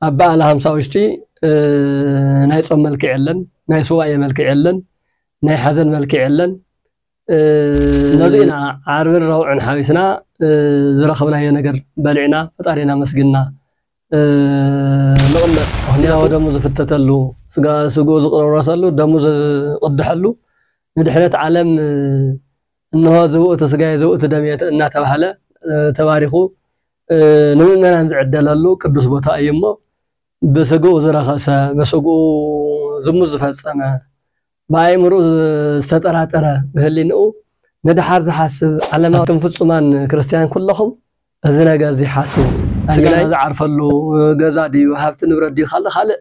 ኣብ በዓለ ሃምሳ ውሽጢ ናይ ጾም መልክዕ የለን፣ ናይ ሱባኤ መልክዕ የለን፣ ናይ ሓዘን መልክዕ የለን። ነዚ ኢና ዓርብን ረቡዕን ሓዊስና ዝረኸብናዮ ነገር በሊዕና ፈጣሪና ኣመስጊንና ንቕመጥ። ሕያወ ደሙ ዝፍተተሉ፣ ስጋ ስግኡ ዝቕረረሰሉ፣ ደሙ ዝቕድሐሉ ንድሕነት ዓለም እንሆ እዚ ውእቱ ሥጋየ ዘውእቱ ደምየ እናተባህለ ተባሪኹ ንምእመናን ዝዕደለሉ ቅዱስ ቦታ እዩ እሞ ብሥግኡ ዝረኸሰ ብሥግኡ ዝሙት ዝፈጸመ ብኣእምርኡ ዝተጠራጠረ ብህሊንኡ ንደሓር ዝሓስብ ዓለማዊ ኣቱም ፍጹማን ክርስትያን ኩሎኹም እዚ ነገር እዚ ሓስቡ ሥጋና ዝዓርፈሉ ገዛ ድዩ ሃብቲ ንብረት ድዩ ካለ ካልእ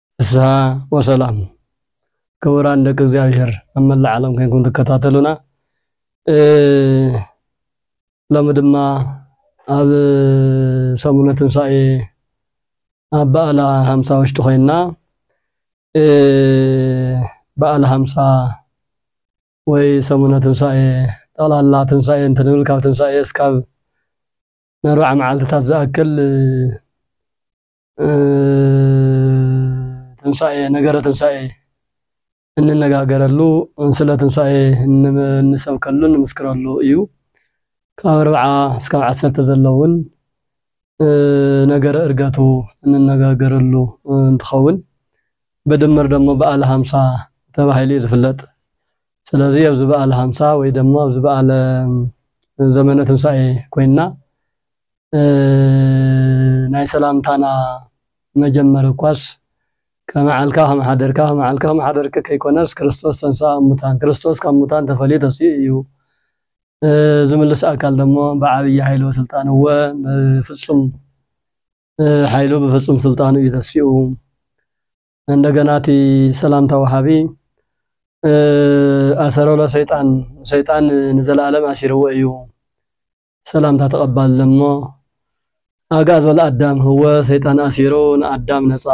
ፍስሃ ወሰላም ክቡራን ደቂ እግዚኣብሔር ኣብ መላእ ዓለም ኮይንኩም ትከታተሉና ሎሚ ድማ ኣብ ሰሙነ ትንሳኤ ኣብ በዓላ ሃምሳ ውሽጢ ኮይንና በዓል ሃምሳ ወይ ሰሙነ ትንሳኤ ጠቕላላ ትንሳኤ እንትንብል ካብ ትንሳኤ እስካብ ንኣርባዓ መዓልትታት ዝኣክል ትንሳኤ ነገረ ትንሳኤ እንነጋገረሉ ስለ ትንሳኤ እንሰብከሉ ንምስክረሉ እዩ። ካብ ኣርብዓ እስካብ ዓሰርተ ዘሎ እውን ነገረ እርገቱ እንነጋገረሉ እንትኸውን ብድምር ደሞ በዓለ ሃምሳ ተባሂሉ እዩ ዝፍለጥ። ስለዚ ኣብዚ በዓለ ሃምሳ ወይ ደሞ ኣብዚ በዓለ ዘመነ ትንሳኤ ኮይንና ናይ ሰላምታና መጀመሪ እኳስ ከመዓልካ ከምሓደርካ ከመዓልካ ከምሓደርኪ ከይኮነስ ክርስቶስ ተንሥኣ እሙታን ክርስቶስ ካብ ሙታን ተፈልዩ ተሲኡ እዩ ዝምልስ ኣካል ደሞ ብዓብዪ ኃይሉ ወሥልጣን እወ ብፍጹም ኃይሉ ብፍጹም ሥልጣኑ እዩ ተሲኡ እንደገና እቲ ሰላምታ ወሃቢ ኣሰረሎ ሰይጣን ሰይጣን ንዘለዓለም ኣሲርዎ እዩ ሰላምታ ተቀባሊ እሞ ኣግኣዝ ወልኣዳም ህወ ሰይጣን ኣሲሩ ንኣዳም ነጻ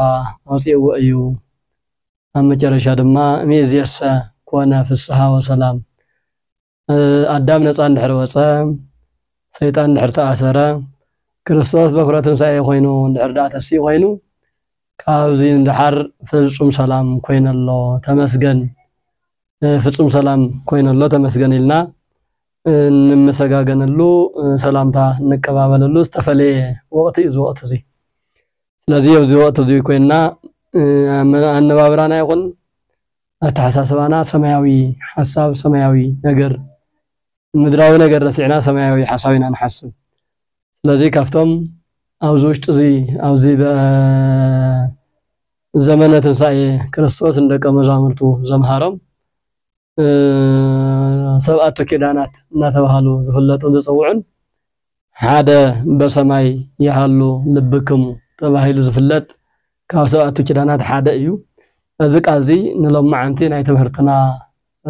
ኣውጺእዎ እዩ ኣብ መጨረሻ ድማ እምይእዜሰ ኮነ ፍስሃ ወሰላም ኣዳም ነጻ እንድሕር ወጸ ሰይጣን እንድሕር ተኣሰረ ክርስቶስ በኩረ ትንሳኤ ኮይኑ እንድሕር ደኣ ተሲኡ ኮይኑ ካብዚ ንደሓር ፍጹም ሰላም ኮይነ ኣሎ ተመስገን ፍጹም ሰላም ኮይኑ ኣሎ ተመስገን ኢልና እንመሰጋገነሉ ሰላምታ እንቀባበለሉ ዝተፈለየ ወቕቲ እዩ እዚ ወቕቲ እዚ ስለዚ ኣብዚ ወቕቲ እዚ ኮይንና ኣነባብራና ይኹን ኣተሓሳስባና ሰማያዊ ሓሳብ ሰማያዊ ነገር ምድራዊ ነገር ረሲዕና ሰማያዊ ሓሳብ ኢና ንሓስብ ስለዚ ካብቶም ኣብዚ ውሽጢ እዚ ኣብዚ ዘመነ ትንሳኤ ክርስቶስ ንደቀ መዛሙርቱ ዘምሃሮም ሰብኣቱ ኪዳናት እናተባሃሉ ዝፍለጡን ዝፅውዑን ሓደ በሰማይ ይሃሉ ልብክሙ ተባሂሉ ዝፍለጥ ካብ ሰብኣቱ ኪዳናት ሓደ እዩ። እዚ ቃል እዚ ንሎማዓንቲ ናይ ትምህርትና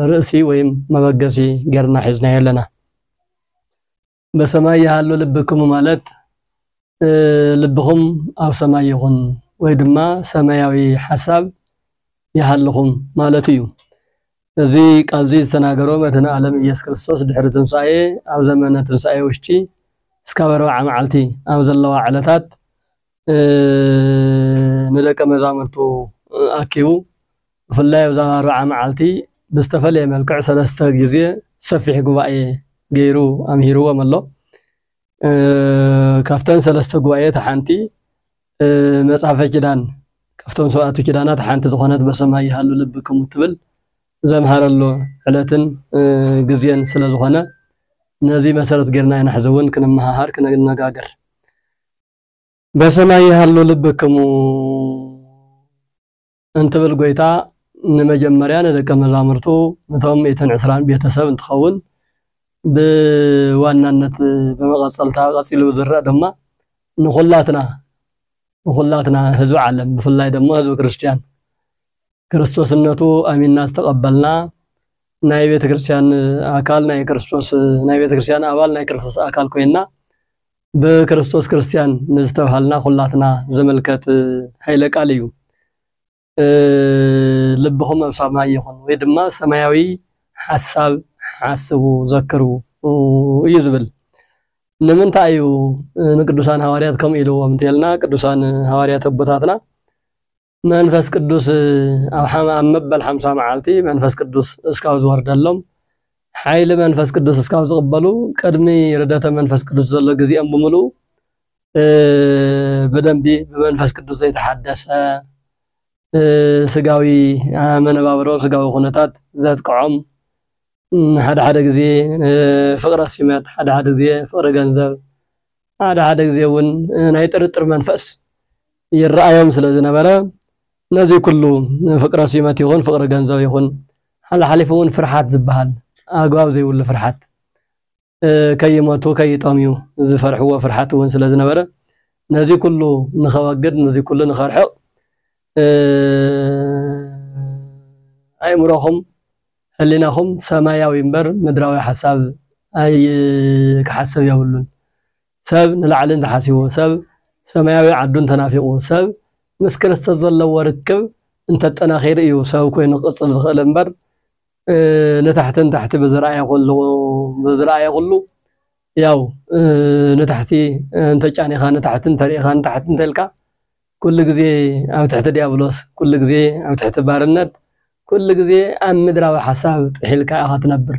ርእሲ ወይም መበገሲ ጌርና ሒዝናዮ ኣለና። በሰማይ ይሃሉ ልብክሙ ማለት ልብኹም ኣብ ሰማይ ይኹን ወይ ድማ ሰማያዊ ሓሳብ ይሃልኹም ማለት እዩ። እዚ ቃል እዚ ዝተናገሮ መድህን ዓለም ኢየሱስ ክርስቶስ ድሕሪ ትንሣኤ ኣብ ዘመነ ትንሣኤ ውሽጢ እስካብ ኣርብዓ መዓልቲ ኣብ ዘለዋ ዕለታት ንደቀ መዛሙርቱ ኣኪቡ ብፍላይ ኣብዛ ኣርብዓ መዓልቲ ብዝተፈለየ መልክዕ ሰለስተ ግዜ ሰፊሕ ጉባኤ ገይሩ ኣምሂርዎም ኣሎ። ካብተን ሰለስተ ጉባኤት ሓንቲ መጽሐፈ ኪዳን ካብቶም ሰብኣቱ ኪዳናት ሓንቲ ዝኾነት በሰማይ ይሃሉ ልብክሙ ትብል ዘምሃረሉ ዕለትን ግዜን ስለ ዝኾነ ነዚ መሰረት ጌርና ኢና ሕዚ እውን ክንመሃሃር ክንነጋገር በሰማይ ይሃሉ ልብክሙ እንትብል ጎይታ ንመጀመርያ ንደቀ መዛሙርቱ ንቶም እትን ዕስራን ቤተሰብ እንትኸውን ብዋናነት ብመቐፀልታ ቀፂሉ ዝረእ ድማ ንኹላትና ንኹላትና ህዝቢ ዓለም ብፍላይ ድማ ህዝቢ ክርስትያን ክርስቶስነቱ ኣሚንና ዝተቐበልና ናይ ቤተ ክርስቲያን ኣካል ናይ ክርስቶስ ናይ ቤተ ክርስቲያን ኣባል ናይ ክርስቶስ ኣካል ኮይና ብክርስቶስ ክርስቲያን ንዝተባሃልና ኩላትና ዘመልከት ኃይለ ቃል እዩ። ልብኹም ኣብ ሰማይ ይኹን ወይ ድማ ሰማያዊ ሓሳብ ሓስቡ ዘክሩ እዩ ዝብል። ንምንታይ እዩ ንቅዱሳን ሃዋርያት ከምኡ ኢልዎም እንተልና ቅዱሳን ሃዋርያት ኣቦታትና መንፈስ ቅዱስ ኣብ መበል ሓምሳ መዓልቲ መንፈስ ቅዱስ እስካብ ዝወርደሎም ሓይሊ መንፈስ ቅዱስ እስካብ ዝቕበሉ ቅድሚ ርደተ መንፈስ ቅዱስ ዘሎ ግዜኦም ብምልኡ ብደንቢ ብመንፈስ ቅዱስ ዘይተሓደሰ ስጋዊ መነባብሮ ስጋዊ ኩነታት ዘጥቅዖም ሓደ ሓደ ግዜ ፍቕረ ሲመት ሓደ ሓደ ግዜ ፍቕሪ ገንዘብ ሓደ ሓደ ግዜ እውን ናይ ጥርጥር መንፈስ ይረኣዮም ስለ ዝነበረ ነዚ ኩሉ ፍቅረ ሲመት ይኹን ፍቅሪ ገንዘብ ይኹን ሓላሓሊፉ እውን ፍርሓት ዝበሃል ኣግባብ ዘይብሉ ፍርሓት ከይመቱ ከይጠምዩ ዝፈርሕዎ ፍርሓት እውን ስለ ዝነበረ ነዚ ኩሉ ንኸወግድ ነዚ ኩሉ ንኸርሕቕ ኣእምሮኹም ሕሊናኹም ሰማያዊ እምበር ምድራዊ ሓሳብ ኣይ ክሓስብ የብሉን ሰብ ንላዕሊ እንተሓሲቡ ሰብ ሰማያዊ ዓዱ እንተናፊቑ ሰብ ምስ ክርስቶስ ዘለዎ ርክብ እንተጠናኺሩ እዩ ሰብ ኮይኑ ክቕፅል ዝኽእል እምበር ንታሕቲ ንታሕቲ ብዝረኣየ ኩሉ ብዝረኣየ ኩሉ ያው ንታሕቲ እንተጫኒኻ ንታሕቲ እንተሪኢኻ ንታሕቲ እንተልካ ኩሉ ግዜ ኣብ ትሕቲ ድያብሎስ፣ ኩሉ ግዜ ኣብ ትሕቲ ባርነት፣ ኩሉ ግዜ ኣብ ምድራዊ ሓሳብ ጥሒልካ ኢኻ ትነብር።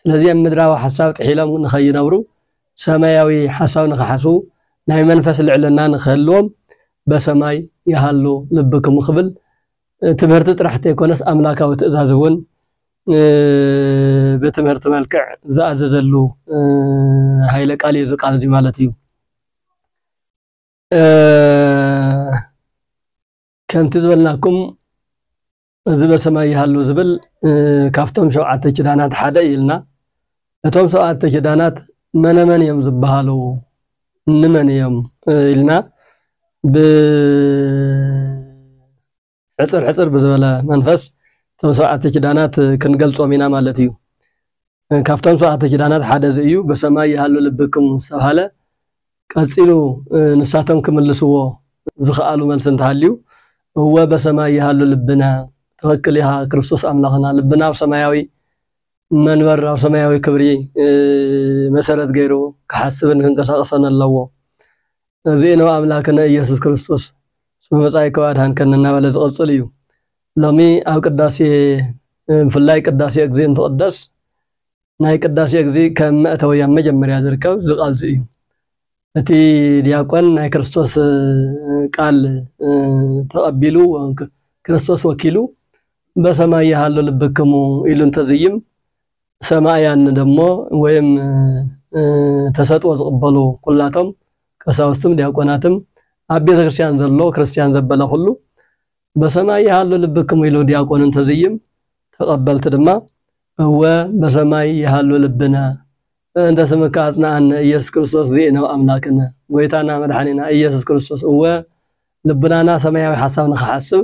ስለዚ ኣብ ምድራዊ ሓሳብ ጥሒሎም ንኸይነብሩ፣ ሰማያዊ ሓሳብ ንኽሓስቡ፣ ናይ መንፈስ ልዕልና ንኽህልዎም በሰማይ ይሃሉ ልብክሙ ክብል ትምህርቲ ጥራሕ ተይኮነስ ኣምላካዊ ትእዛዝ እውን ብትምህርቲ መልክዕ ዝኣዘዘሉ ሃይለ ቃል እዩ እዚ ቃል እዚ ማለት እዩ። ከምቲ ዝበልናኩም እዚ በሰማይ ይሃሉ ዝብል ካብቶም ሸውዓተ ኪዳናት ሓደ እዩ ኢልና እቶም ሰብዓተ ኪዳናት መነመን እዮም ዝበሃሉ እንመን እዮም ኢልና ብ ሕጽር ሕጽር ብዝበለ መንፈስ እቶም ሰብዓተ ኪዳናት ክንገልጾም ኢና ማለት እዩ። ካብቶም ሰብዓተ ኪዳናት ሓደ እዚ እዩ። በሰማይ ይሃሉ ልብክም ዝተብሃለ ቀጺሉ ንሳቶም ክምልስዎ ዝኸኣሉ መልሲ እንተሃልዩ እወ በሰማይ ይሃሉ ልብነ ትክክል ኢኻ ክርስቶስ ኣምላኽና ልብና ኣብ ሰማያዊ መንበር ኣብ ሰማያዊ ክብሪ መሰረት ገይሩ ክሓስብን ክንቀሳቀሰን ኣለዎ ነዚእነሆ ኣምላክነ እየሱስ ክርስቶስ ስመ መጻኢኮ ኣድኃንከኒ እናበለ ዝቕጽል እዩ። ሎሚ ኣብ ቅዳሴ ብፍላይ ቅዳሴ እግዚእ እንትቕደስ ናይ ቅዳሴ እግዚእ ከም መእተዊ ኣብ መጀመርያ ዝርከብ እዚ ቃል እዚ እዩ። እቲ ዲያቆን ናይ ክርስቶስ ቃል ተቐቢሉ ክርስቶስ ወኪሉ በሰማይ ይሃሉ ልብክሙ ኢሉ እንተዝይም ሰማእያን ደሞ ወይም ተሰጥኦ ዝቕበሉ ኩላቶም ቀሳውስትም ዲያቆናትም ኣብ ቤተ ክርስቲያን ዘሎ ክርስቲያን ዘበለ ኩሉ በሰማይ ይሃሉ ልብክም ኢሉ ዲያቆን እንተዝይም ተቐበልቲ ድማ እወ በሰማይ ይሃሉ ልብነ እንተ ስምካ ኣጽናኣነ ኢየሱስ ክርስቶስ ዚእነ ኣምላክነ ጎይታና መድሓኒና ኢየሱስ ክርስቶስ እወ ልብናና ሰማያዊ ሓሳብ ንክሓስብ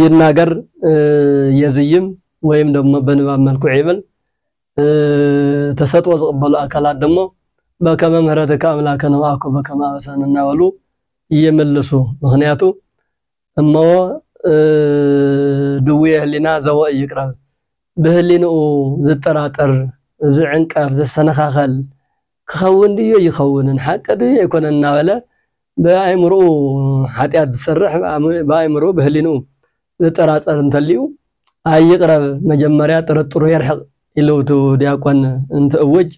ይናገር፣ የዝይም ወይም ደሞ በንባብ መልክዑ ይብል። ተሰጥኦ ዝቕበሉ ኣካላት ደሞ በከመ ምህረትከ ኣምላከ ነብኣኩ በከመ ኣበሳን እናበሉ ይምልሱ። ምክንያቱ እሞ ድውየ ህሊና ዘወ እይቅረብ ብህሊንኡ ዝጠራጠር፣ ዝዕንቀፍ፣ ዝሰነኻኸል፣ ክኸውን ድዩ ኣይኸውንን፣ ሓቂ ድዩ ኣይኮነን እናበለ ብኣእምሮኡ ሓጢኣት ዝሰርሕ፣ ብኣእምሮኡ ብህሊንኡ ዝጠራጸር እንተልዩ፣ ኣይቕረብ መጀመርያ ጥርጥሩ የርሕቕ ኢሉ እቲ ዲያቆን እንትእውጅ፣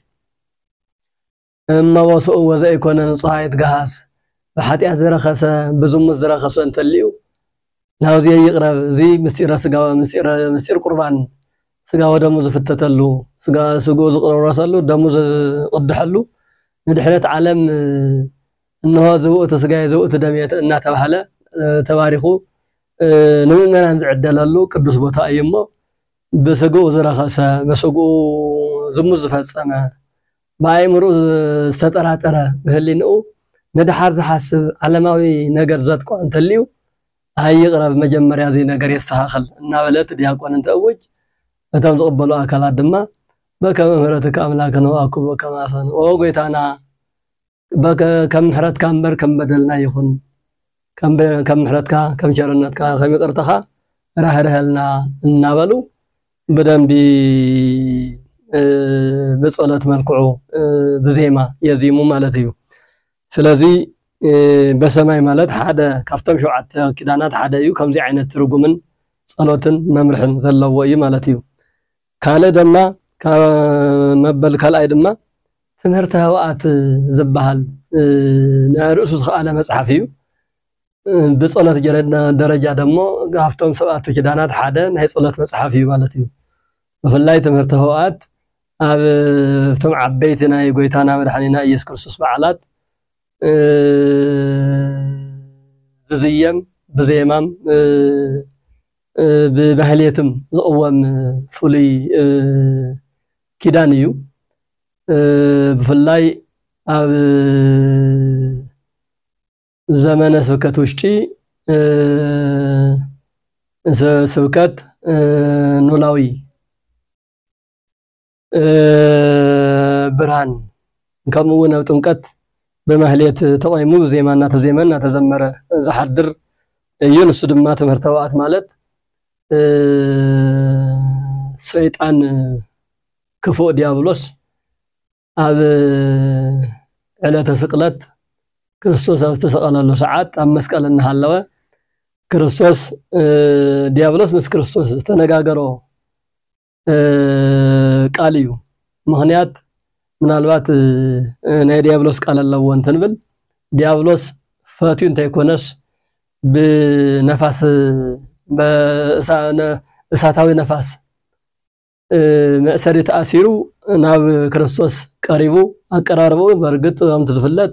እመቦስኡ ወዘኢኮነ ንጹሃ ይትገሃስ፣ ብሓጢኣት ዝረኸሰ፣ ብዝሙት ዝረኸሰ እንተልዩ ናብዚየ ይቕረብ እዚ ምስጢረ ስጋወ ምስጢር ቁርባን ስጋ ወደሙ ዝፍተተሉ ስግኡ ዝቕረረሰሉ ደሙ ዝቕድሐሉ ንድሕነት ዓለም እነሆ እዚ ውእቱ ስጋየ እዚ ውእቱ ደምየ እናተባህለ ተባሪኹ ንምእመናን ዝዕደለሉ ቅዱስ ቦታ እዩ እሞ ብስግኡ ዝረኸሰ ብስግኡ ዝሙት ዝፈጸመ ብኣእምርኡ ዝተጠራጠረ፣ ብህሊንኡ ንደሓር ዝሓስብ ዓለማዊ ነገር ዘጥቅዖ እንተልዩ፣ ኣይ ይቕረብ መጀመርያ እዚ ነገር የስተኻኽል እናበለ እቲ ዲያቆን እንትእውጅ፣ እቶም ዝቕበሉ ኣካላት ድማ በከመ ምህረትከ ኣምላክነ ወኣኩቦ ከማሰን ኦ ጎይታና! ከም ምሕረትካ እምበር ከም በደልና ይኹን፣ ከም ምሕረትካ፣ ከም ቸርነትካ፣ ከም ይቅርታኻ ራህርሀልና እናበሉ ብደንቢ ብጸሎት መልክዑ ብዜማ የዚሙ ማለት እዩ። ስለዚ በሰማይ ማለት ሓደ ካብቶም ሸውዓተ ኪዳናት ሓደ እዩ። ከምዚ ዓይነት ትርጉምን ጸሎትን መምርሕን ዘለዎ እዩ ማለት እዩ። ካልእ ደማ ካብ መበል ካልኣይ ድማ ትምህርተ ኅብኣት ዝበሃል ናይ ርእሱ ዝኸኣለ መጽሓፍ እዩ። ብጸሎት ደረጃ ደሞ ካብቶም ሰብኣቱ ኪዳናት ሓደ ናይ ጸሎት መጽሓፍ እዩ ማለት እዩ። ብፍላይ ትምህርተ ኅብኣት ኣብ እቶም ዓበይቲ ናይ ጎይታና መድሓኒና ኢየሱስ ክርስቶስ በዓላት ዝዝየም ብዜማም ብማህሌትም ዝቕወም ፍሉይ ኪዳን እዩ። ብፍላይ ኣብ ዘመነ ስብከት ውሽጢ ስብከት ኖላዊ ብርሃን ከምኡ እውን ኣብ ጥምቀት ብማህሌት ተቆይሙ ብዜማ እናተዜመ እናተዘመረ ዝሓድር እዩ። ንሱ ድማ ትምህርተ ዋኣት ማለት ሰይጣን ክፉእ ዲያብሎስ ኣብ ዕለተ ስቅለት ክርስቶስ ኣብ ዝተሰቀለሉ ሰዓት ኣብ መስቀል እናሃለወ ክርስቶስ ዲያብሎስ ምስ ክርስቶስ ዝተነጋገሮ ቃል እዩ ምክንያት ምናልባት ናይ ዲያብሎስ ቃል ኣለዎ እንትንብል ዲያብሎስ ፈትዩ እንተይኮነስ ብነፋስ እሳታዊ ነፋስ መእሰሪ ተኣሲሩ ናብ ክርስቶስ ቀሪቡ ኣቀራርባኡ በርግጥ ከምቲ ዝፍለጥ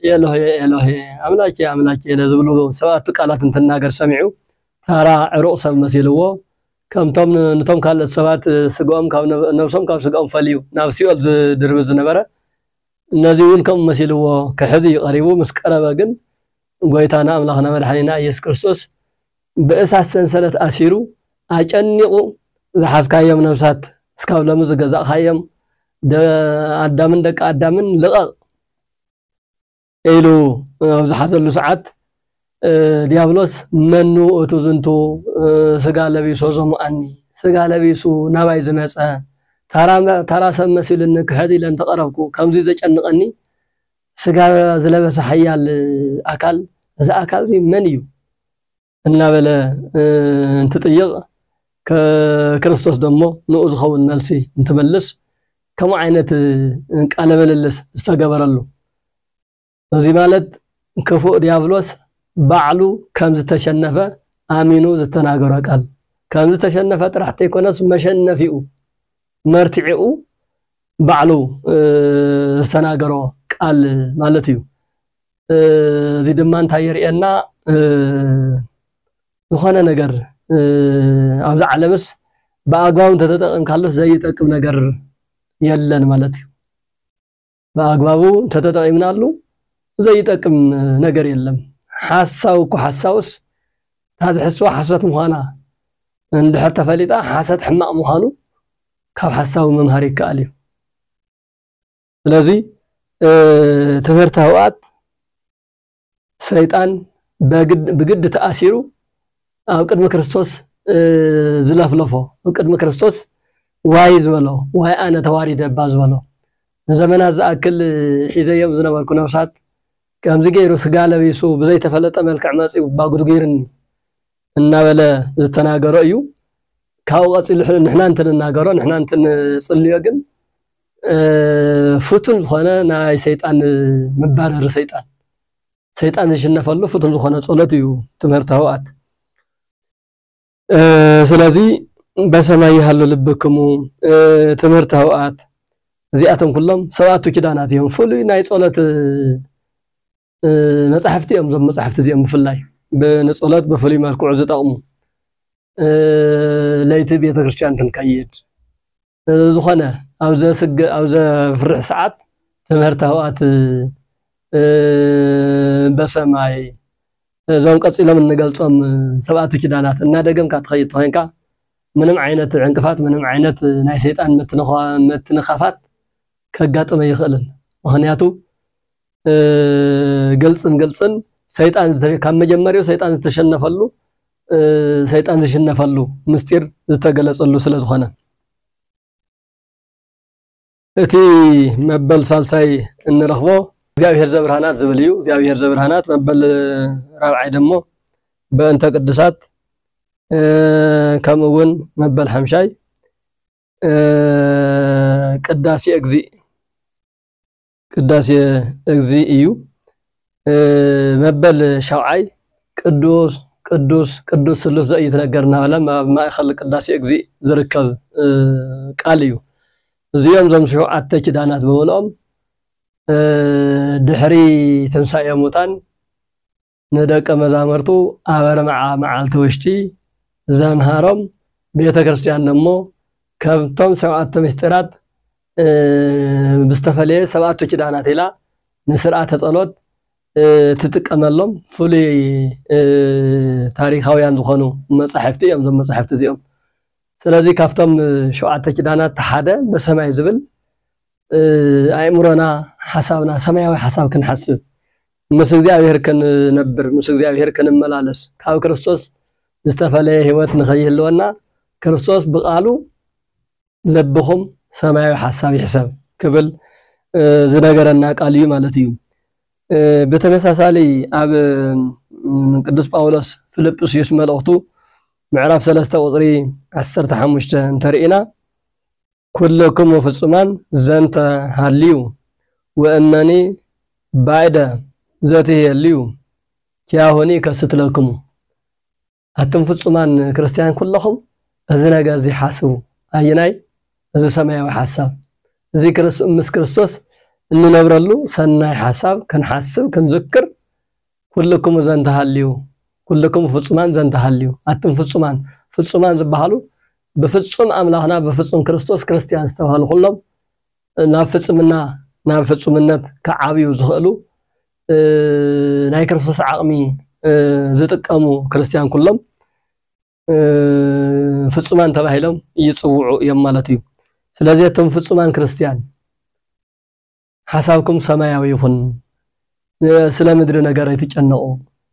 ኤሎሄ ኤሎሄ ኣምላኬ ኣምላኬ ዝብሉ ሰባቱ ቃላት እንትናገር ሰሚዑ ታራ ዕሩቕ ሰብ መሲልዎ ከምቶም ንቶም ካልኦት ሰባት ስግኦም ካብ ነብሶም ካብ ስግኦም ፈልዩ ናብ ሲኦል ዝድርብ ዝነበረ እነዚ እውን ከምኡ መሲልዎ ክሕዚ ቀሪቡ ምስ ቀረበ ግን ጎይታና ኣምላኽና መድሓኒና ኢየሱስ ክርስቶስ ብእሳት ሰንሰለት ኣሲሩ ኣጨኒቑ ዝሓዝካዮም ነብሳት እስካብ ሎሚ ዝገዛእኻዮም ኣዳምን ደቂ ኣዳምን ልቐቕ ኢሉ ኣብ ዝሓዘሉ ሰዓት ዲያብሎስ መኑ እቱ ዝንቱ ስጋ ለቢሶ ዘሙኣኒ ስጋ ለቢሱ ናባይ ዝመፀ ተራ ሰብ መሲሉኒ ክሕት ኢለ እንተቐረብኩ ከምዙይ ዘጨንቐኒ ስጋ ዝለበሰ ሓያል ኣካል እዚ ኣካል እዚ መን እዩ እናበለ እንትጥይቕ ክርስቶስ ደሞ ንኡ ዝኸውን መልሲ እንትመልስ ከምኡ ዓይነት ቃለ ምልልስ ዝተገበረሉ እዚ ማለት ክፉእ ዲያብሎስ ባዕሉ ከም ዝተሸነፈ ኣሚኑ ዝተናገሮ ቃል ከም ዝተሸነፈ ጥራሕ ተይኮነስ መሸነፊኡ መርትዒኡ ባዕሉ ዝተናገሮ ቃል ማለት እዩ። እዚ ድማ እንታይ የርእየና? ዝኾነ ነገር ኣብዚ ዓለምስ ብኣግባቡ እንተተጠቂምካሉስ ዘይጠቅም ነገር የለን ማለት እዩ። ብኣግባቡ እንተተጠቂምናሉ ዘይጠቅም ነገር የለም። ሓሳዊ እኮ ሓሳውስ እታ ዝሕስዋ ሓሶት ምዃና እንድሕር ተፈሊጣ ሓሰት ሕማቕ ምዃኑ ካብ ሓሳዊ ምምሃር ይከኣል እዩ። ስለዚ ትምህርቲ ህውኣት ሰይጣን ብግዲ ተኣሲሩ ኣብ ቅድሚ ክርስቶስ ዝለፍለፎ ኣብ ቅድሚ ክርስቶስ ዋይ ዝበሎ ዋይ ኣነ ተዋሪደ እባ ዝበሎ ንዘመናት ዝኣክል ሒዘዮም ዝነበርኩ ነብሳት ከምዚ ገይሩ ስጋ ለቢሱ ብዘይተፈለጠ መልክዕ መፂኡ ባጉድጊርኒ እናበለ ዝተናገሮ እዩ። ካብኡ ቀፂሉ ንሕና እንትንናገሮ ንሕና እንትንፅልዮ ግን ፍቱን ዝኾነ ናይ ሰይጣን መባረሪ ሰይጣን ሰይጣን ዝሽነፈሉ ፍቱን ዝኾነ ጸሎት እዩ ትምህርቲ ህውኣት ስለዚ በሰማይ ይሃሉ ልብክሙ ትምህርቲ ህውኣት እዚኣቶም ኩሎም ሰብኣቱ ኪዳናት እዮም ፍሉይ ናይ ጸሎት መፃሕፍቲ እዮም እዞም መፃሕፍቲ እዚኦም ብፍላይ ብንፅሎት ብፍሉይ መልክዑ ዝጠቕሙ ለይቲ ቤተ ክርስቲያን ክንከይድ ዝኾነ ኣብ ዘፍርሕ ሰዓት ትምህርቲ ኣብኣት በሰማይ እዞም ቀፂሎም እንገልፆም ሰብኣቲ ኪዳናት እናደገምካ ትኸይድ ተኸይንካ ምንም ዓይነት ዕንቅፋት ምንም ዓይነት ናይ ሰይጣን ምትንኻፋት ከጋጥመ ይኽእልን ምክንያቱ ግልፅን ግልፅን ሰይጣን ካብ መጀመሪያው ሰይጣን ዝተሸነፈሉ ሰይጣን ዝሽነፈሉ ምስጢር ዝተገለፀሉ ስለ ዝኾነ እቲ መበል ሳልሳይ እንረኽቦ እግዚኣብሔር ዘብርሃናት ዝብል እዩ። እግዚኣብሔር ዘብርሃናት መበል ራብዓይ ደሞ በእንተ ቅዱሳት ከምኡ እውን መበል ሓምሻይ ቅዳሴ እግዚእ ቅዳሴ እግዚእ እዩ። መበል ሻውዓይ ቅዱስ ቅዱስ ቅዱስ ስሉስ ዘኢይትነገር እናበለ ኣብ ማእከል ቅዳሴ እግዚእ ዝርከብ ቃል እዩ። እዚኦም እዞም ሸውዓተ ኪዳናት ብምልኦም ድሕሪ ትንሳኤ ሙታን ንደቀ መዛሙርቱ ኣብ ኣርብዓ መዓልቲ ውሽጢ ዘምሃሮም ቤተ ክርስቲያን ደሞ ከምቶም ሰብኣቶ ምስጢራት ብዝተፈለየ ሰብኣቶ ኪዳናት ኢላ ንስርዓተ ጸሎት ትጥቀመሎም ፍሉይ ታሪካውያን ዝኾኑ መጻሕፍቲ እዮም እዞም መጻሕፍቲ እዚኦም ስለዚ ካብቶም ሸውዓተ ኪዳናት ሓደ በሰማይ ዝብል ኣእምሮና ሓሳብና ሰማያዊ ሓሳብ ክንሓስብ ምስ እግዚኣብሔር ክንነብር፣ ምስ እግዚኣብሔር ክንመላለስ፣ ካብ ክርስቶስ ዝተፈለየ ሕይወት ንኸይህልወና ክርስቶስ ብቃሉ ለብኹም ሰማያዊ ሓሳብ ይሕሰብ ክብል ዝነገረና ቃል እዩ ማለት እዩ። ብተመሳሳሊ ኣብ ቅዱስ ጳውሎስ ፊልጵስዩስ መልእኽቱ ምዕራፍ ሰለስተ ቁፅሪ ዓሰርተ ሓሙሽተ እንተርኢና ኵልክሙ ፍጹማን ዘንተ ሀልዩ ወእመኒ ባይደ ዘትሔልዩ ኪያሆኒ እከስት ለክሙ። ኣቱም ፍጹማን ክርስትያን ኵለኹም እዚ ነገር እዚ ሓስቡ። ኣየናይ? እዚ ሰማያዊ ሓሳብ እዚ ምስ ክርስቶስ እንነብረሉ ሰናይ ሓሳብ ክንሓስብ ክንዝክር ኩልክሙ ዘንተሃልዩ ኩልክሙ ፍጹማን ዘንተሃልዩ ኣትም ፍጹማን ፍጹማን ዝበሃሉ ብፍጹም ኣምላኽና ብፍጹም ክርስቶስ ክርስትያን ዝተባህሉ ኩሎም ናብ ፍጽምና ናብ ፍጹምነት ክዓብዩ ዝኽእሉ ናይ ክርስቶስ ዓቕሚ ዝጥቀሙ ክርስትያን ኩሎም ፍጹማን ተባሂሎም ይጽውዑ እዮም ማለት እዩ። ስለዚ እቶም ፍጹማን ክርስትያን ሓሳብኩም ሰማያዊ ይኹን። ስለ ምድሪ ነገር ኣይትጨነቑ፣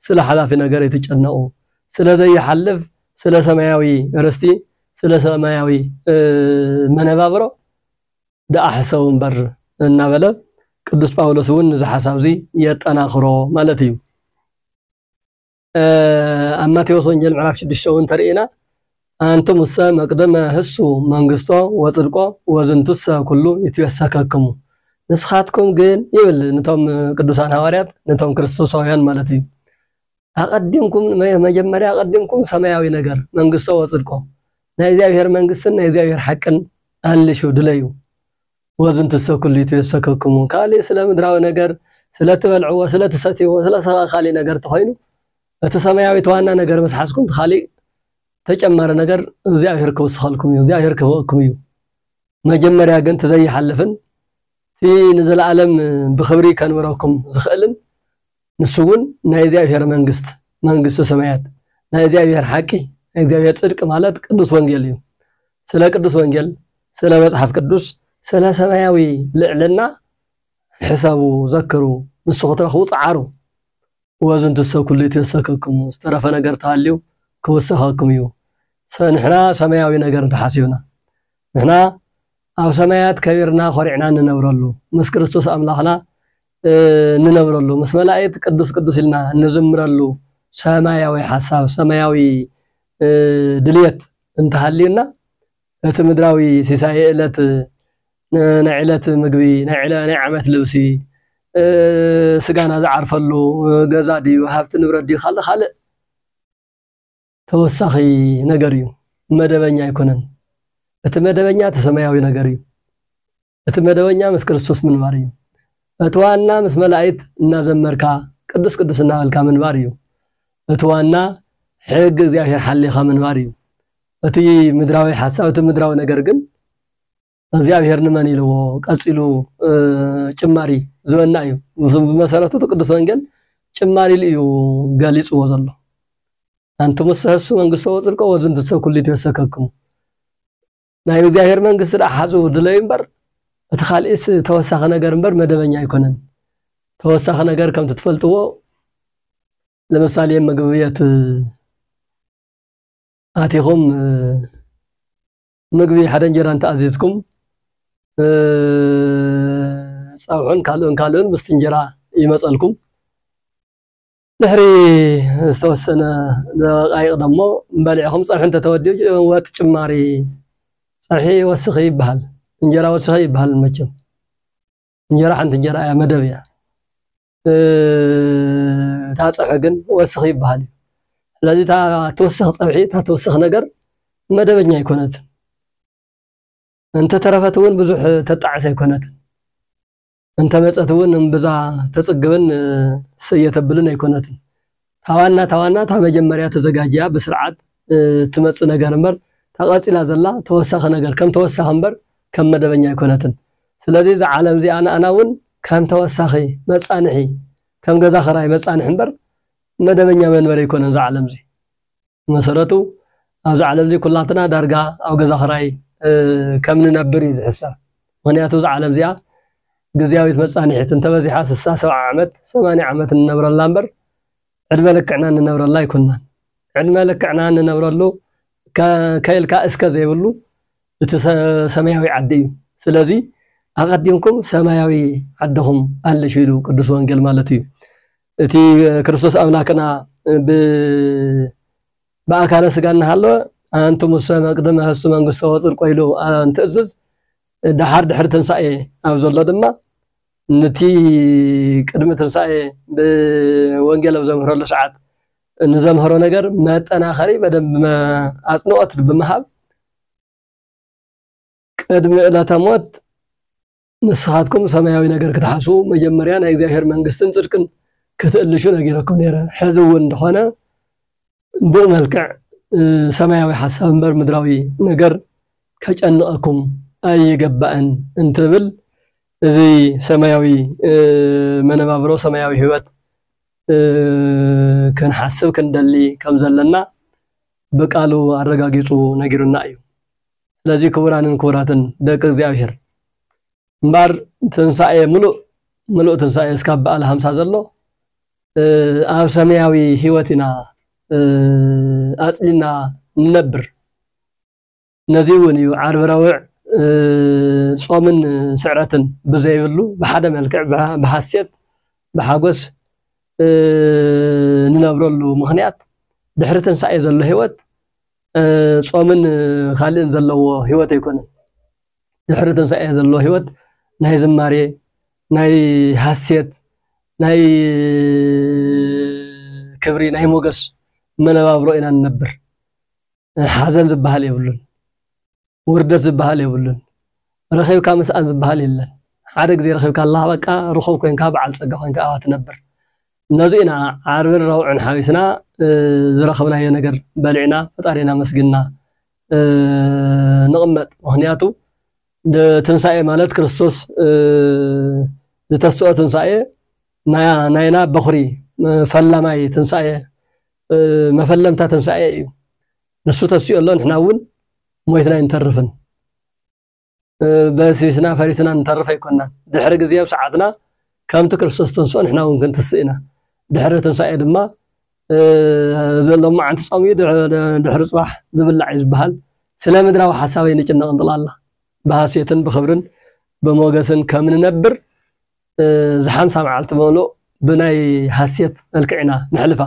ስለ ሓላፊ ነገር ኣይትጨነቑ፣ ስለ ዘይሓልፍ፣ ስለ ሰማያዊ ርስቲ፣ ስለ ሰማያዊ መነባብሮ ደኣ ሕሰቡ እምበር እናበለ ቅዱስ ጳውሎስ እውን እዚ ሓሳብ እዚ የጠናኽሮ ማለት እዩ። ኣብ ማቴዎስ ወንጌል ምዕራፍ ሽዱሽተ እውን ተርእና ኣንትሙሰ መቅደመ ህሱ መንግስቶ ወፅድቆ ወዝንቱሰ ኩሉ ይትበሰከክሙ ንስኻትኩም ግን ይብል ንቶም ቅዱሳን ሃዋርያት ነቶም ክርስቶሳውያን ማለት እዩ ኣቀዲምኩም መጀመርያ ኣቀዲምኩም ሰማያዊ ነገር መንግስቶ ወፅድቆ ናይ እግዚኣብሔር መንግስትን ናይ እግዚኣብሔር ሓቅን ኣልሹ ድለዩ ወዝንትሰ ኩሊቱ የሰከክሙ ካሊእ ስለ ምድራዊ ነገር ስለ ትበልዕዎ ስለ ትሰትይዎ ስለ ሰ ካሊእ ነገር ተኾይኑ እቲ ሰማያዊ እቲ ዋና ነገር ምስ ሓዝኩም እቲ ካሊእ ተጨማሪ ነገር እግዚኣብሔር ክውስኸልኩም እዩ እግዚኣብሔር ክህበኩም እዩ መጀመርያ ግን እቲ ዘይሓልፍን እቲ ንዘለኣለም ብኽብሪ ከንብረኩም ዝኽእልን ንሱ እውን ናይ እግዚኣብሔር መንግስት መንግስተ ሰማያት ናይ እግዚኣብሔር ሓቂ ናይ እግዚኣብሔር ጽድቂ ማለት ቅዱስ ወንጌል እዩ። ስለ ቅዱስ ወንጌል፣ ስለ መጽሓፍ ቅዱስ፣ ስለ ሰማያዊ ልዕልና ሕሰቡ፣ ዘክሩ፣ ንሱ ክትረኽቡ ጸዓሩ። ወዝንትሰ ኩሉ ይትወሰከክሙ፣ ዝተረፈ ነገር ተሃልዩ ክውሰኸኩም እዩ። ንሕና ሰማያዊ ነገር እንተሓሲብና ንሕና ኣብ ሰማያት ከቢርና ኮሪዕና እንነብረሉ ምስ ክርስቶስ ኣምላኽና እንነብረሉ ምስ መላእክት ቅዱስ ቅዱስ ኢልና እንዝምረሉ ሰማያዊ ሓሳብ ሰማያዊ ድልየት እንተሃልዩና እቲ ምድራዊ ሲሳይ ዕለት ናይ ዕለት ምግቢ ናይ ዓመት ልብሲ ስጋና ዝዓርፈሉ ገዛ ድዩ ሃብቲ ንብረት ድዩ ካልእ ካልእ ተወሳኺ ነገር እዩ መደበኛ ኣይኮነን እቲ መደበኛ እቲ ሰማያዊ ነገር እዩ እቲ መደበኛ ምስ ክርስቶስ ምንባር እዩ። እቲ ዋና ምስ መላኢት እናዘመርካ ቅዱስ ቅዱስ እናበልካ ምንባር እዩ። እቲ ዋና ሕጊ እግዚኣብሔር ሓሊኻ ምንባር እዩ። እቲ ምድራዊ ሓሳብ እቲ ምድራዊ ነገር ግን እግዚኣብሔር ንመን ኢልዎ ቀጺሉ ጭማሪ ዝበና እዩ። ብመሰረቱ እቲ ቅዱስ ወንጌል ጭማሪ ኢሉ እዩ ገሊጽዎ ዘሎ። ኣንትሙሰ ሐሱ መንግሥቶ ወጽድቆ ወዝንትሰ ኩሉ ይትወሰከክሙ ናይ እግዚኣብሔር መንግስቲ ደኣ ሓዙ ድለዩ እምበር እቲ ካልእስ ተወሳኺ ነገር እምበር መደበኛ ኣይኮነን። ተወሳኺ ነገር ከምቲ ትፈልጥዎ ለምሳሌ ምግቢ ቤት ኣቲኹም ምግቢ ሓደ እንጀራ እንተኣዚዝኩም ፀብሑን ካልኡን ካልኡን ምስቲ እንጀራ ይመፀልኩም። ድሕሪ ዝተወሰነ ደቓይቕ ደሞ በሊዕኹም ፀብሒ እንተተወዲኡ ወጥ ጭማሪ ፀብሒ ወስኺ ይበሃል። እንጀራ ወስኺ ኣይበሃልን መቸም። እንጀራ ሓንቲ እንጀራ እያ መደብ እያ። እታ ፀብሒ ግን ወስኺ ይበሃል እዩ። ስለዚ እታ ትውስኽ ፀብሒ እታ ትውስኽ ነገር መደበኛ ኣይኮነትን። እንተተረፈት እውን ብዙሕ ተጣዕስ ኣይኮነትን። እንተመጸት እውን እምብዛ ተጽግብን ሰየ ተብልን ኣይኮነትን። ታዋና ታዋና እታ መጀመርያ ተዘጋጅያ ብስርዓት እትመጽእ ነገር እምበር እታ ቀጺላ ዘላ ተወሳኺ ነገር ከም ተወሳኺ እምበር ከም መደበኛ ኣይኮነትን። ስለዚ እዛ ዓለም እዚኣ ንኣና እውን ከም ተወሳኺ፣ መጻንሒ፣ ከም ገዛ ክራይ መጻንሒ እምበር መደበኛ መንበሪ ኣይኮነን እዚ ዓለም እዚ። ብመሰረቱ ኣብዛ ዓለም እዚ ኩላትና ዳርጋ ኣብ ገዛ ክራይ ከም ንነብር እዩ ዝሕሰብ ምክንያቱ እዛ ዓለም እዚኣ ግዝያዊት መጻንሒት እንተበዚሓ ስሳ ሰብዓ ዓመት ሰማንያ ዓመት እንነብረላ እምበር ዕድመ ልክዕና እንነብረላ ኣይኮናን ዕድመ ልክዕና እንነብረሉ ከይልካ እስከ ዘይብሉ እቲ ሰማያዊ ዓዲ እዩ ስለዚ ኣቐዲምኩም ሰማያዊ ዓድኹም ኣለሽ ኢሉ ቅዱስ ወንጌል ማለት እዩ እቲ ክርስቶስ ኣምላክና ብኣካለ ስጋ እናሃለወ ኣንትሙሰ መቅድመ ሀሱ መንግስቶ ወፅድቆ ኢሉ እንትእዝዝ ደሓር ድሕሪ ትንሳኤ ኣብ ዘሎ ድማ ንቲ ቅድሚ ትንሳኤ ብወንጌል ኣብ ዘምህረሉ ሰዓት ንዘምህሮ ነገር መጠናኸሪ በደንብ ኣፅንኦት ብምሃብ ቅድሚ ዕለተ ሞት ንስኻትኩም ሰማያዊ ነገር ክትሓስቡ መጀመርያ ናይ እግዚኣብሔር መንግስትን ጽድቅን ክትእልሹ ነጊረኩም ነይረ። ሕዚ እውን እንደኾነ ብኡ መልክዕ ሰማያዊ ሓሳብ እምበር ምድራዊ ነገር ከጨንቐኩም ኣይገባእን እንትብል እዚ ሰማያዊ መነባብሮ ሰማያዊ ህይወት ክንሓስብ ክንደሊ ከም ዘለና ብቃሉ ኣረጋጊጹ ነጊሩና እዩ። ስለዚ ክቡራንን ክቡራትን ደቂ እግዚኣብሔር እምበር ትንሳኤ ምሉእ ምሉእ ትንሳኤ እስካብ በዓል ሃምሳ ዘሎ ኣብ ሰማያዊ ህይወት ኢና ኣፅሊና ንነብር ነዚ እውን እዩ ዓርቢ ረውዕ ጾምን ስዕረትን ብዘይብሉ ብሓደ መልክዕ ብሓሴት ብሓጎስ ንነብረሉ ምክንያት ድሕሪ ትንሳኤ ዘሎ ህይወት ጾምን ካልእን ዘለዎ ህይወት ኣይኮነን። ድሕሪ ትንሳኤ ዘሎ ህይወት ናይ ዝማሬ፣ ናይ ሃሴት፣ ናይ ክብሪ፣ ናይ ሞገስ መነባብሮ ኢና ንነብር። ሓዘን ዝበሃል የብሉን። ውርደት ዝብሃል የብሉን ረኺብካ ምስኣን ዝብሃል የለን ሓደ ግዜ ረኺብካላ በቃ ርኹብ ኮንካ ብዓል ጸጋ ኮንካ ኢኻ ትነብር ነዚ ኢና ዓርብን ረቡዕን ሓዊስና ዝረኸብናዮ ነገር በሊዕና ፈጣሪና ኣመስግንና ንቕመጥ ምኽንያቱ ትንሳኤ ማለት ክርስቶስ ዝተስኦ ትንሳኤ ናይና በኹሪ ፈላማይ ትንሳኤ መፈለምታ ትንሳኤ እዩ ንሱ ተሲኡ ኣሎ ንሕና እውን ሞይትና ኣይንተርፍን በሲስና ፈሪስና ንተርፍ ኣይኮናን ድሕሪ ግዜ ኣብ ሰዓትና ከምቲ ክርስቶስ ተንስኦ ንሕና እውን ክንትስእ ኢና ድሕሪ ትንሳኤ ድማ ዘሎ መዓንቲ ፆም እዩ ድሕሪ ፅባሕ ዝብላዕ እዩ ዝበሃል ስለ ምድራዊ ሓሳበይ ንጭነቕ ንጥላላ ብሃሴትን ብኽብርን ብሞገስን ከም ንነብር እዚ ሓምሳ መዓልቲ መሉእ ብናይ ሃሴት መልክዕ ኢና ነሕልፋ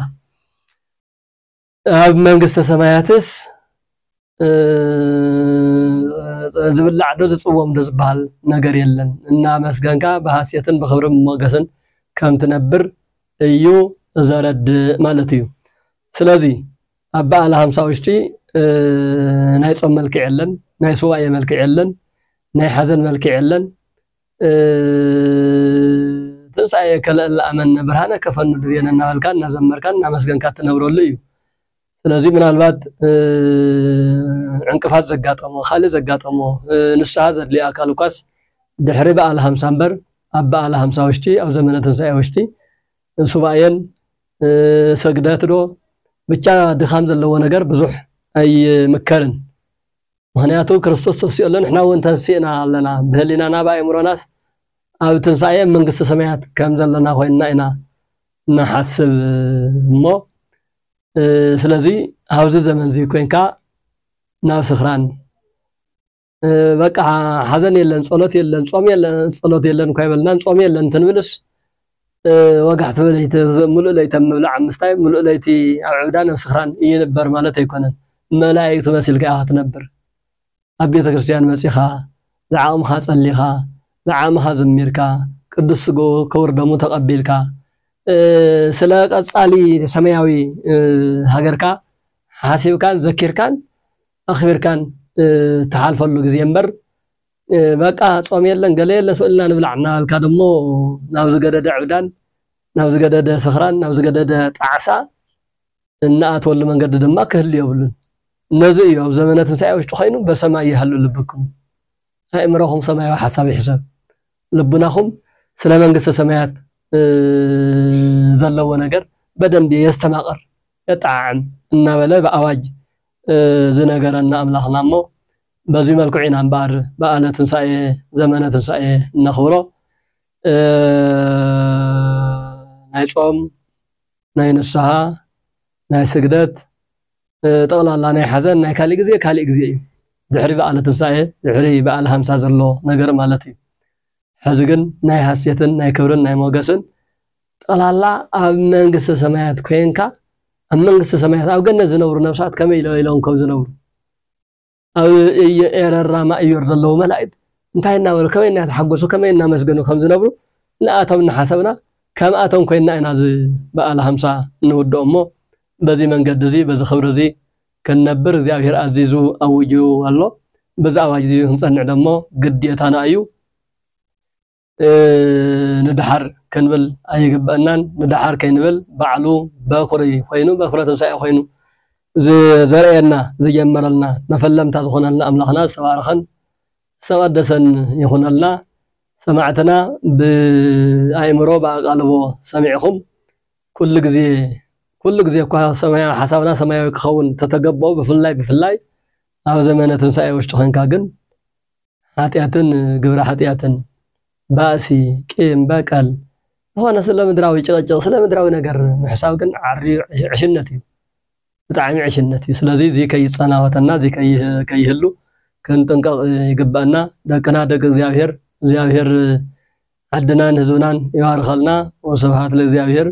ኣብ መንግስተ ሰማያትስ ዝብላዕ ዶ ዝጽወም ዶ ዝበሃል ነገር የለን፣ እናመስገንካ ብሃሴትን ብኽብሪ ሞገስን ከም ትነብር እዩ ዘረድእ ማለት እዩ። ስለዚ ኣብ በዓለ ሃምሳ ውሽጢ ናይ ጾም መልክዕ የለን፣ ናይ ሱባኤ መልክዕ የለን፣ ናይ ሓዘን መልክዕ የለን፣ ትንሳኤ ከለእ ለኣመነ ብርሃነ ከፈኑ ድቤነ እናበልካ እናዘመርካ እናመስገንካ እትነብረሉ እዩ። ስለዚ ምናልባት ዕንቅፋት ዘጋጠሞ ካልእ ዘጋጠሞ ንስሓ ዘድልዮ ኣካል እኳስ ድሕሪ በዓል ሃምሳ እምበር ኣብ በዓል ሃምሳ ውሽጢ ኣብ ዘመነ ትንሳኤ ውሽጢ ሱባኤን ሰግደት ዶ ብቻ ድኻም ዘለዎ ነገር ብዙሕ ኣይምከርን። ምኽንያቱ ክርስቶስ ተስኡ ኣሎ ንሕና እውን ተንሲእና ኣለና ብህሊናና ብኣእምሮናስ ኣብ ትንሳኤ ኣብ መንግስቲ ሰማያት ከም ዘለና ኮይንና ኢና ንሓስብ እሞ ስለዚ ኣብዚ ዘመን እዚ ኮንካ ናብ ስኽራን በቃ ሓዘን የለን ጸሎት የለን ጾም የለን ጸሎት የለን እኳ ይበልናን ጾም የለን እንትንብልስ ወጋሕ ትብል ኣይተ ምሉእ ለይቲ ኣብ ምብላዕ ኣብ ምስታይ ምሉእ ለይቲ ኣብ ዕብዳን ኣብ ስኽራን እይንበር ማለት ኣይኮነን መላኢክት መሲልካ ኢኻ ትነብር ኣብ ቤተ ክርስትያን መጺኻ ዝዓቕምኻ ጸሊኻ ዝዓመኻ ዘሚርካ ቅዱስ ስግኡ ክቡር ደሙ ተቐቢልካ ስለ ቀጻሊ ሰማያዊ ሃገርካ ሓሲብካን ዘኪርካን ኣኽቢርካን ትሓልፈሉ ግዜ እምበር በቃ ጾም የለን ገለ የለ ስእልና ንብላዕ እናበልካ ደሞ ናብ ዝገደደ ዕብዳን ናብ ዝገደደ ስኽራን ናብ ዝገደደ ጣዕሳ እናኣተወሉ መንገዲ ድማ ክህሉ የብሉን እነዚ እዩ ኣብ ዘመነ ትንሳኤ ውሽጢ ኮይኑ በሰማይ ይሃሉ ልብኩም ኣእምሮኹም ሰማያዊ ሓሳብ ይሕሰብ ልቡናኹም ስለ መንግስተ ሰማያት ዘለዎ ነገር በደንብ የስተማቕር የጠዓዕም እናበለ ብኣዋጅ ዝነገረና ኣምላኽና እሞ በዙይ መልክዑ ኢና እምበኣር በዓለ ትንሳኤ ዘመነ ትንሳኤ እነኽብሮ ናይ ጾም ናይ ንስሓ ናይ ስግደት ጠቕላላ ናይ ሓዘን ናይ ካሊእ ግዜ ካሊእ ግዜ እዩ ድሕሪ በዓለ ትንሳኤ ድሕሪ በዓል ሃምሳ ዘሎ ነገር ማለት እዩ ሕዚ ግን ናይ ሃሴትን ናይ ክብርን ናይ ሞገስን ጠቕላላ ኣብ መንግስተ ሰማያት ኮንካ ኣብ መንግስተ ሰማያት ኣብ ገነት ዝነብሩ ነብሳት ከመይ ኢለ ኢሎም ከም ዝነብሩ ኣብ ኤረር ራማ ኢዮር ዘለዉ መላኢት እንታይ እናበሉ ከመይ እናተሓጎሱ ከመይ እናመስገኑ ከም ዝነብሩ ንኣቶም እናሓሰብና ከምኣቶም ኮይና ኢና እዚ በዓል ሃምሳ እንውድኦ እሞ በዚ መንገዲ እዚ በዚ ክብሪ እዚ ክንነብር እግዚኣብሔር ኣዚዙ ኣዊጁ ኣሎ። በዚ ኣዋጅ እዚ ክንጸንዕ ደሞ ግዴታና እዩ። ንደሓር ክንብል ኣይግበእናን ንደሓር ከይንብል ባዕሉ በኩሪ ኮይኑ በኩረ ትንሳኤ ኮይኑ ዘርእየና ዝጀመረልና መፈለምታ ዝኾነልና ኣምላኽና ዝተባረኸን ዝተቐደሰን ይኹነልና። ሰማዕትና ብኣእምሮ ብኣቓልቦ ሰሚዕኹም ኩሉ ግዜ ኩሉ ግዜ እኳ ሰማያዊ ሓሳብና ሰማያዊ ክኸውን ተተገበኦ ብፍላይ ብፍላይ ኣብ ዘመነ ትንሳኤ ውሽጢ ኮንካ ግን ሓጢኣትን ግብረ ሓጢኣትን፣ ባእሲ፣ ቂም በቀል፣ ዝኾነ ስለ ምድራዊ ጭቕጭቕ፣ ስለ ምድራዊ ነገር ምሕሳብ ግን ዓርዩ ዕሽነት እዩ። ብጣዕሚ ዕሽነት እዩ። ስለዚ እዚ ከይጸናወተና እዚ ከይህሉ ክንጥንቀቕ ይግበኣና። ደቅና ደቂ እግዚኣብሔር እግዚኣብሔር ዓድናን ህዝብናን ይባርኸልና። ወስብሃት ለእግዚኣብሔር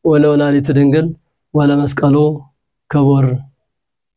ወለወላዲቱ ድንግል ወለመስቀሉ ክቡር።